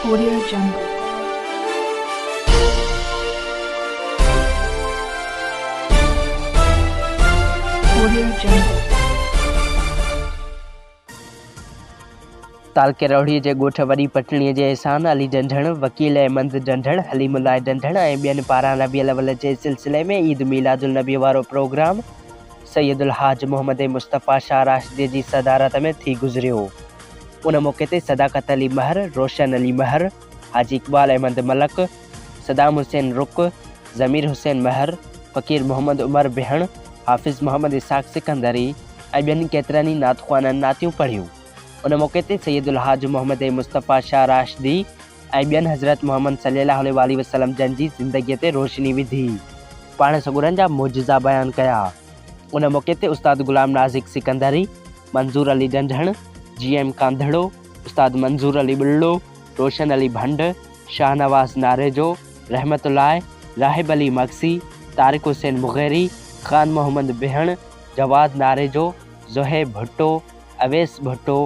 Korea جنگ، Korea جنگ. تعلقي روهڙي جي ڳوٺ وڏي پٽڻي جي احسان علي ڊنڍڻ، وڪيل احمد ڊنڍڻ، حليم الله ڊنڍڻ ۽ ٻين پاران ربيع الاول جي سلسلي ۾ عيد ميلاد النبي وارو پروگرام سيد الحاج محمد مصطفيٰ شاهه راشديء جي صدارت ۾ ٿي گذريو. ان موقعي تي صداقت علي مهر، روشن علي مهر، حاجي اقبال احمد ملڪ، صدام حسين رڪ، ضمير حسين مهر، فقير محمد عمر بهڻ، حافظ محمد اسحاق سڪندري ۽ ٻين ڪيترن ئي نعت خوانن نعتيون پڙهيون. ان موقعي تي سيد الحاج محمد مصطفيٰ شاهه راشدي ۽ ٻين حضرت محمد صلي الله عليه واٰله وسلم جن جي زندگيء تي روشني وڌي، پاڻ سڳورن جا معجزا بيان ڪيا. ان موقعي تي استاد غلام نازڪ سڪندري، منظور علي ڊنڍڻ، جي ايم ڪانڌڙو، استاد منظور علي ٻلڙو، روشن علي ڀنڊ، شاهنواز ناريجو، رحمت الله، راحب علي مگسي، طارق حسين مغيري، خان محمد بهڻ، جواد ناريجو، زوهيب ڀٽو، اويس ڀٽو،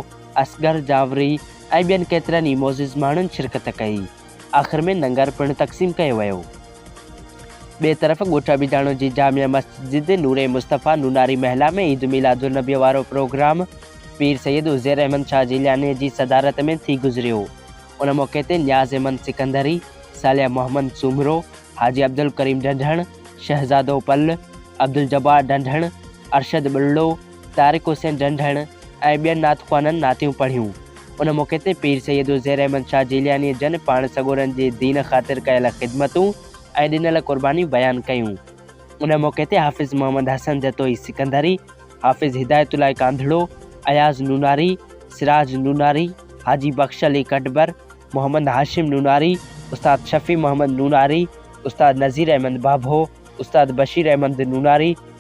اصغر جاوڙي ۽ ٻين ڪيترن ئي معزز ماڻهن شرڪت ڪئي. آخر ۾ لنگر پڻ تقسيم ڪيو ويو. ٻئي طرف ڳوٺ ابيداڻو جي جامع مسجد نور مصطفيٰ نوناري محلا ۾ عيد ميلاد النبي وارو پروگرام پير سيد عزير احمد شاهه جيلانيء جي صدارت ۾ ٿي گذريو. ان موقعي تي نياز احمد سڪندري، صالح محمد سومرو، حاجي عبدالڪريم ڍنڍڻ، شهزادو پل، عبدالجبار ڍنڍڻ، ارشد ٻرڙو، طارق حسين ڊنڍڻ ۽ ٻين نعت خوانن نعتيون پڙهيون. ان موقعي تي پير سيد عزير احمد شاهه جيليانيء جن پاڻ سڳورن جي دين خاطر ڪيل خدمتون ۽ ڏنل قربانيون بيان ڪيون. ان موقعي تي حافظ محمد حسن جتوئي سڪندري، حافظ هدايت الله ڪانڌڙو، اياز نوناري، سراج نوناري، حاجي بخش علي ڪٽبر، محمد هاشم نوناري، استاد شفيع محمد نوناري، استاد نذير احمد ڀاڀو، استاد بشير احمد نوناري،